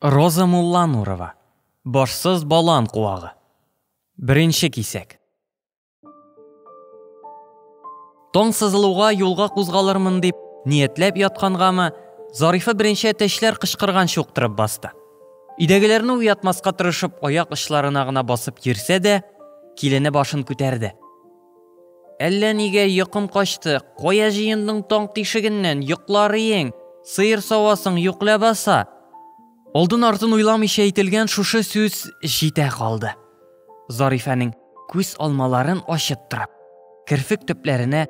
Роза Мулланурова, Башсыз балан куагы. Беренче кисәк. Таң сызылуга юлга кузгалырмын дип, ниятләп яткангамы, Зарифа беренче әтәчләр кычкырган чуктырып басты. Идәгеләрне уятмаска тырышып, аяк очларына гына басып йөрсә дә, килене башын күтәрде. Әллә нигә йокым качты, кая җыендың таң тишегеннән, йоклар иең, сыер савасың юк ләбаса! Алдын-артын уйламыйча әйтелгән шушы сүз җитә калды. Зарифәнең күз алмаларын ачып тора. Керфек төпләренә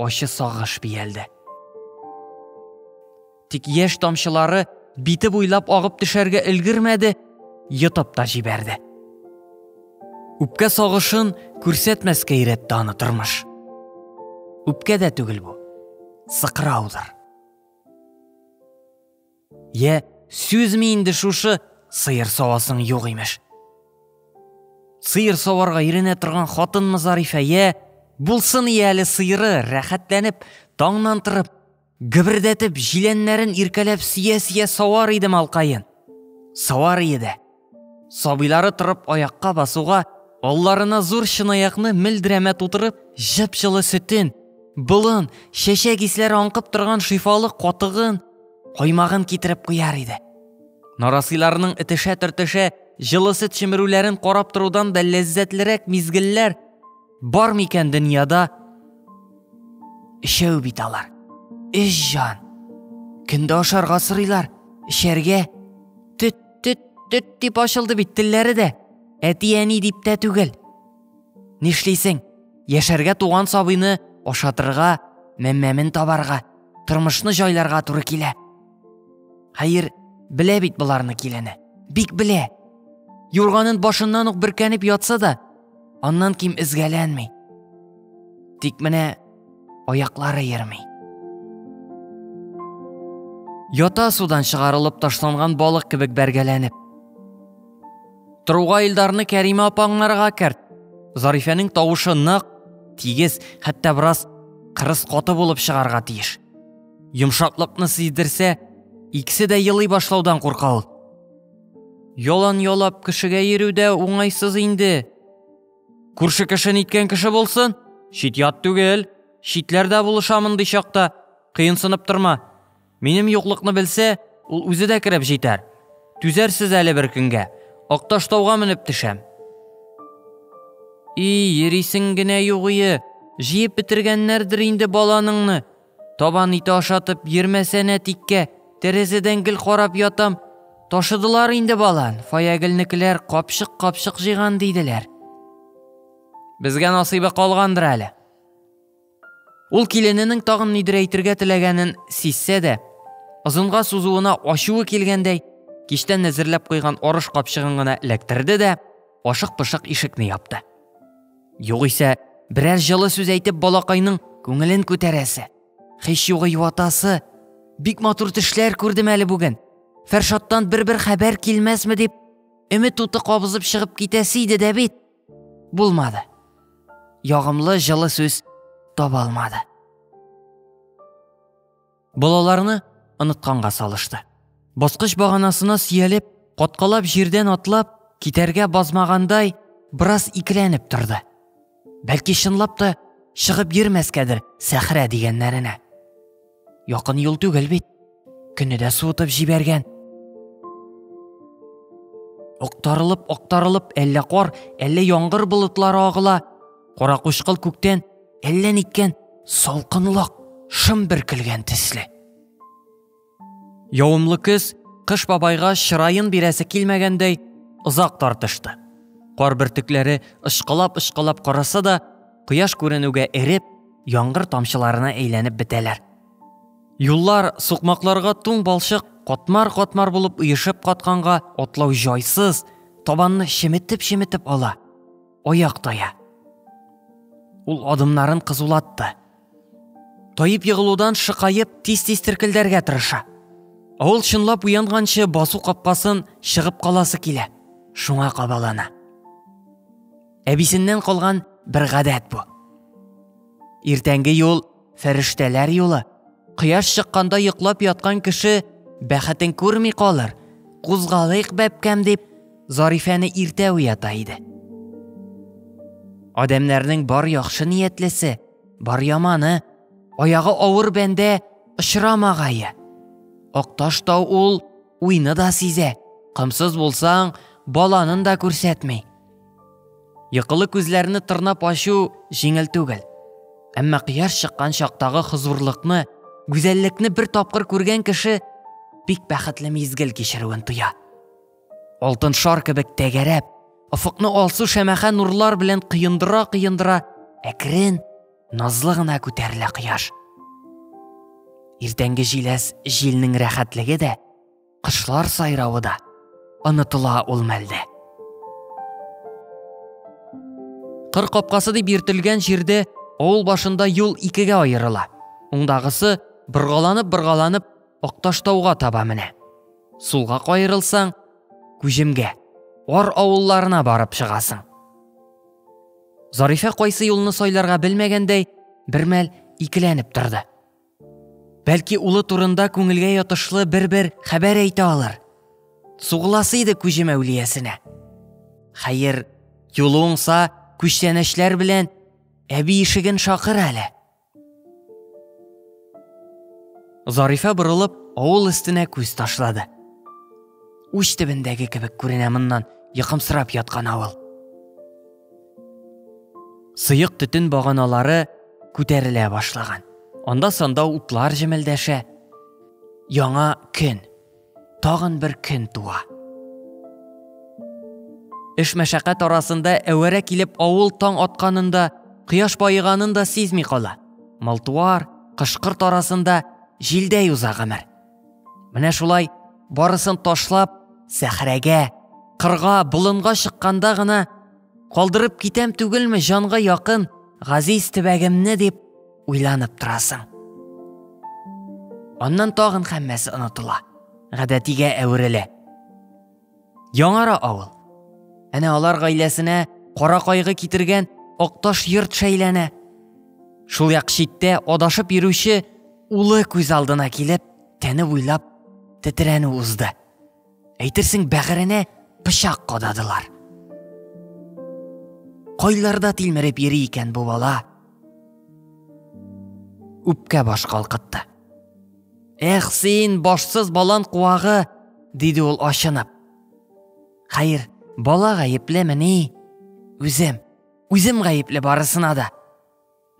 ачы сагыш биялде. Тик яшь тамчылары бите буйлап агып төшәргә өлгермәде, йотып та җибәрде. Үпкә сагышын күрсәтмәскә өйрәтте аны тормыш. Үпкә дә түгел бу, сыкраудыр. Йә, сүзме инде шушы сыер савасың юк имеш. Сыер саварга иренә торган хатынмы Зарифә, йә, булсын ияле сыйры, рәхәтләнеп, таңнан торып, Гөбердәтеп, җиләннәрен иркәләп сөя-сөя савар иде малкаен. Савар иде. Сабыйлары торып аякка басуга, алларына зур чынаякны мелдерәмә тутырып, җып-җылы сөтен, болын, чәчәк исләре аңкып торган шифалы катыгын, каймагын китереп куяр иде. Нарасыйларның этешә-төртешә җылы сөт чемерүләрен карап торудан да ләззәтлерәк мизгелләр Бар микән дөньяда өчәү бит алар. Өч җан. Көндә ашарга сорыйлар, эчәргә. Төт, төт, төт дип ачылды бит телләре дә. Әти-әни дип тә түгел. Нишлисең? Яшәргә туган сабыйны ашатырга, мәммәмен табарга, тормышны җайларга туры килә. Хәер, белә бит боларны килене. Бик белә. Юрганын башыннан ук бөркәнеп ятса да, Аннан ким эзгәләнми. Тик менә аяклары йөрми. Ята судан чыгарылып ташланган балык кебек бәргәләнеп. Труга Илдарны Кәримә апаңнарга керт. Зарифәнең тавышы нык, тигез, хәтта бераз кырыс каты булып чыгарга тиеш. Йомшаклыкны сиздерсә, икесе дә елый башлаудан курка ул. Ялан ялап кешегә йөрү дә уңайсыз инде. Күрше кеше ниткән кеше булсын? Чит-ят түгел. Читләрдә булыша мондый чакта. Кыенсынып торма. Минем юклыкны белсә, ул үзе дә кереп җитәр. Түзәрсез әле бер көнгә. Акташтауга менеп төшәм. И, йөрисең генә югые, җыеп бетергәннәрдер инде баланыңны. Табан ите ашатып йөрмәсәнә тиккә, тәрәзәдән гел карап ятам. Ташыдылар инде балан, Фаягелнекеләр капчык-капчык җыйган диделәр. Безгә насыйбы калгандыр әле. Ул килененең тагын нидер әйтергә теләгәнен сизсә дә, озынга сузуына ачуы килгәндәй, киштән әзерләп куйган арыш капчыгын гына эләктерде дә, ашык-пошык ишекне япты. Югыйсә, берәр җылы сүз әйтеп балакайның күңелен күтәрәсе. Хич югы юатасы. Бик матур төшләр күрдем әле бүген. Фәршаттан бер-бер хәбәр килмәсме дип, өмет уты кабызып чыгып китәсе иде дә бит. Булмады. Ягымлы җылы сүз таба алмады. балаларны онытканга салышты. Баскыч баганасына сөялеп, каткалап җирдән атлап, китәргә базмагандай, бераз икеләнеп торды. Бәлки чынлап та чыгып йөрмәскәдер сәхрә дигәннәренә. Якын юл түгел бит. Көне дә суытып җибәргән. Актарылып, актарылып, әллә кар, әллә яңгыр болытлары агыла, Каракучкыл күктән әллә ниткән салкынлык шым бөркелгән төсле. Явымлы көз кыш бабайга чырайын бирәсе килмәгәндәй озак тартышты. Кар бөртекләре ышкылап-ышкылап караса да, кояш күренүгә эреп, яңгыр тамчыларына әйләнеп бетәләр. Юллар сукмакларга туң балчык катмар-катмар булып оешып катканга атлау җайсыз, табанны шеметеп-шеметеп ала. Аяк тая. Ул адымнарын кызулатты. Таеп егылудан шыкаеп, тиз-тиз теркелдәргә тырыша. Ул чынлап уянганчы басу капкасын чыгып каласы килә. Шуңа кабалана. Әбисеннән калган бер гадәт бу. Иртәнге юл Фәрештәләр юлы. Кояш чыкканда йоклап яткан кеше бәхетен күрми калыр. Кузгалыйк, бәбкәм, дип, Зарифәне иртә уята иде. Адәмнәрнең бар яхшы ниятлесе, бар яманы, аягы авыр бәндә очрамагае. Акташ тау ул уйны да сизә, комсыз булсаң, баланын да күрсәтми. Йокылы күзләрне тырнап ачу җиңел түгел. Әмма кыяр чыккан чактагы хозурлыкны, гүзәллекне бер тапкыр күргән кеше бик бәхетле мизгел кичерүен тоя. Алтын шар кебек тәгәрәп, офыкны алсу шәмәхә нурлар белән кыендыра-кыендыра, әкрен, назлы гына күтәрелә кояш. Иртәнге җиләс җилнең рәхәтлеге дә кошлар сайравы да онытыла ул мәлдә. Кыр капкасы дип йөртелгән җирдә авыл башында юл икегә аерыла. Уңдагысы боргаланып-боргаланып Акташтауга таба менә. Сулга каерылсаң, Күҗемгә, Ар авылларына барып чыгасың. Зарифә кайсы юлны сайларга белмәгәндәй, бермәл икеләнеп торды. Бәлки улы турында күңелгә ятышлы бер-бер хәбәр әйтә алыр. Сугыласы иде күҗем әүлиясенә. Хәер, юлы уңса, күчтәнәчләр белән әби ишеген шакыр әле. Зарифә борылып, авыл өстенә күз ташлады. Уч төбендәге кебек күренә моннан, йокымсырап яткан авыл. Сыек төтен баганалары күтәрелә башлаган. Анда санда утлар җемелдәшә. Яңа көн. Тагын бер көн туа. Эш мәшәкать арасында әвәрә килеп авыл таң атканында, кояш баеганын да сизми кала. Малтуар, кышкырт арасында җилдәй уза гомер. Менә шулай барысын ташлап, сәхрәгә, кырга, болынга чыкканда гына калдырып китәм түгелме җанга якын газиз төбәгемне дип уйланып торасың. Аннан тагын хәммәсе онытыла, гадәтигә әверелә. Яңара авыл. Әнә алар гаиләсенә кара кайгы китергән Акташ йорт шәйләнә. Шул як читтә адашып йөрүче улы күз алдына килеп, тәне буйлап тетрәнү узды. Әйтерсең бәгыренә пычак кададылар. Кайларда тилмереп йөри икән бу бала? Үпкә баш калкытты. Эх, син, башсыз балан куагы, диде ул ашынып. Хәер, бала гаеплеме ни? Үзем, үзем гаепле барысына да.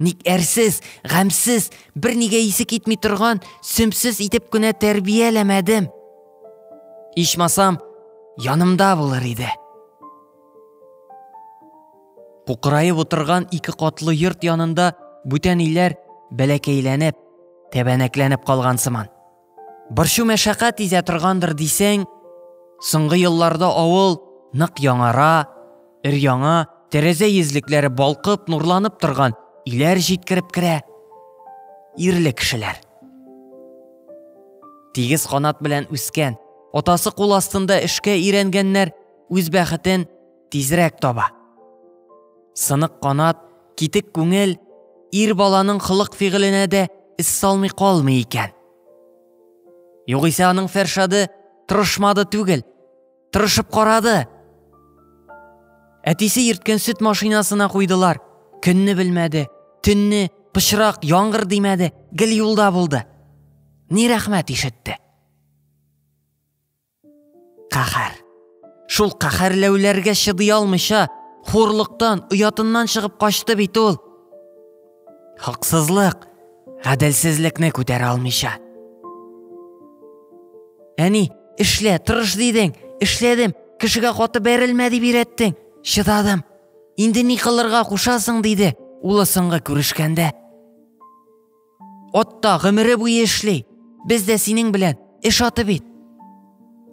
Ник әрсез, гамсез, бер нигә исе китми торган, сөмсез итеп кенә тәрбияләмәдем. Ичмасам, янымда булыр иде. Кукыраеп утырган ике катлы йорт янында бүтән иләр бәләкәйләнеп, тәбәнәкләнеп калган сыман. Борчу мәшәкать изә торгандыр дисәң, соңгы елларда авыл нык яңара, өр яңа, тәрәзә йөзлекләре балкып, нурланып торган иләр җиткереп керә. Ирле кешеләр. Тигез канат белән үскән, атасы кул астында эшкә өйрәнгәннәр үз бәхетен тизрәк таба. Сынык канат, китек күңел ир баланың хылык фигыленә дә эз салмый калмый икән. Югыйсә аның Фәршады тырышмады түгел, тырышып карады. Әтисе ирткән сөт машинасына куйдылар. Көнне белмәде, төнне пычрак, яңгыр димәде, гел юлда булды. Ни рәхмәт ишетте. Каһәр. Шул каһәрләүләргә чыдый алмыйча, хурлыктан, оятыннан чыгып качты бит ул. Хаксызлык, гаделсезлекне күтәрә алмыйча. Әни, эшлә, тырыш дидең, эшләдем, кешегә каты бәрелмә дип өйрәттең, чыдадым. Инде ни кылырга кушасың, диде улы соңгы күрешкәндә. Отта гомере буе эшли. Без дә синең белән эш аты бит.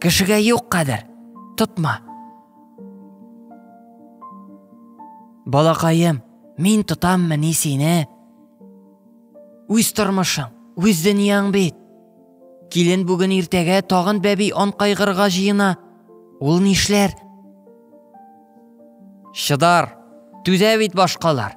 Кешегә юк кадер. Тотма. Балакаем, мин тотаммы ни сине? Үз тормышың, үз дөньяң бит. Килен бүген иртәгә тагын бәби ан кайгырга җыена. Ул нишләр? Чыдар, түзә бит башкалар.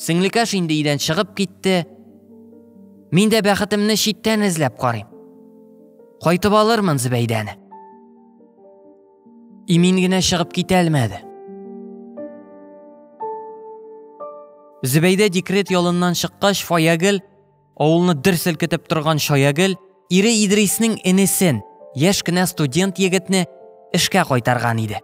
Сеңлекәш инде өйдән чыгып китте. Мин дә бәхетемне читтән эзләп карыйм. Кайтып алырмын Зөбәйдәне. Имин генә чыгып китә алмады. Зөбәйдә декрет ялыннан чыккач, Фаягел Авылны дер селкетеп торган Чаягел ире Идриснең энесен, яшь кенә студент егетне эшкә кайтарган иде.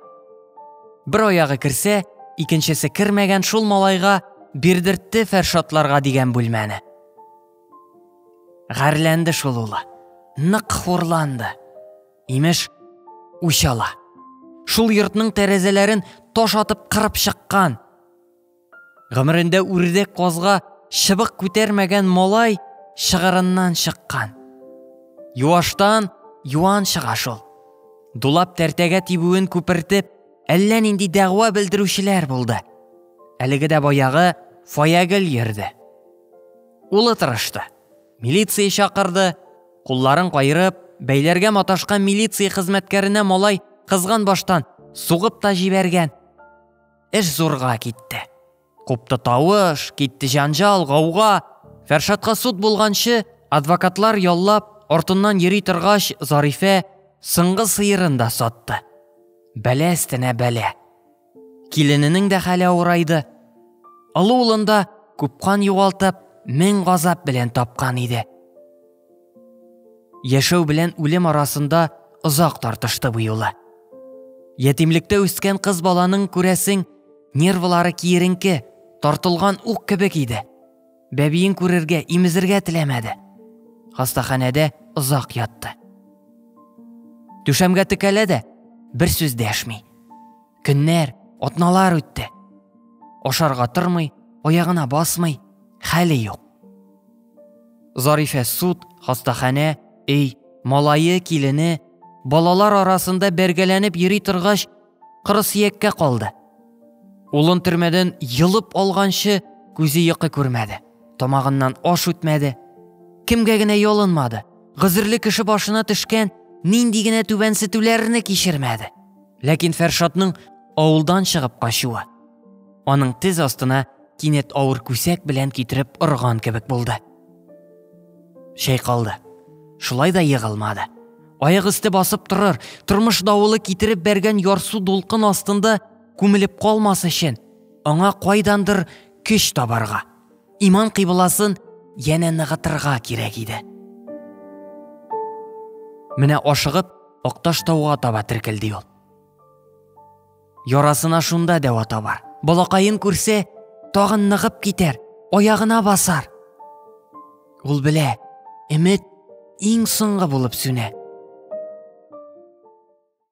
Бер аягы керсә, икенчесе кермәгән шул малайга бирдертте Фәршатларга дигән бүлмәне. Гарләнде шул улы. Нык хурланды. Имеш, үч ала. Шул йортның тәрәзәләрен таш атып кырып чыккан. Гомерендә үрдәк казга чыбык күтәрмәгән малай шыгырыннан чыккан. Юаштан юан чыга шул. Дулап тәртәгә тибүен күпертеп, әллә нинди дәгъва белдерүчеләр булды. Әлеге дә баягы Фаягел йөрде. Улы тырышты. Милиция чакырды, кулларын кайырып, бәйләргә маташкан милиция хезмәткәренә малай кызган баштан сугып та җибәргән. Эш зурга китте. Купты тавыш, китте җанжал, гауга. Фәршатка суд булганчы, адвокатлар яллап, артыннан йөри торгач, Зарифә соңгы сыерын да сатты. Бәлә өстенә бәлә. Килененең дә хәле авырайды. Олы улында күпкан югалтып, мең газап белән тапкан иде. Яшәү белән үлем арасында озак тартышты бу юлы. Ятимлектә үскән кыз баланың күрәсең, нервлары киеренке, тартылган ук кебек иде. Бәбиен күрергә, имезергә теләмәде. Хастаханәдә озак ятты. Түшәмгә текәлә дә, бер сүз дәшми. Көннәр, атналар үтте. Ашарга тормый, аягына басмый, хәле юк. Зарифә суд, хастаханә, өй, малае, килене, балалар арасында бәргәләнеп йөри торгач, кырысөяккә калды. Улын төрмәдән йолып алганчы күзе йокы күрмәде, тамагыннан аш үтмәде. Кемгә генә ялынмады, гозерле кеше башына төшкән нинди генә түбәнсетүләрне кичермәде. Ләкин Фәршатның авылдан чыгып качуы, Аның тез астына кинәт авыр күсәк белән китереп орган кебек булды. Чайкалды. Шулай да егылмады. Аяк өсте басып торыр, тормыш давылы китереп бәргән ярсу дулкын астында күмелеп калмас өчен, аңа кайдандыр көч табарга, иман кыйбласын янә ныгытырга кирәк иде. Менә ашыгып, Акташ тауга таба теркелде ул. Ярасына шунда дәва табар. Балакаен күрсә, тагын ныгып китәр, аягына басар. Ул белә, эмет иң соңгы булып сүнә.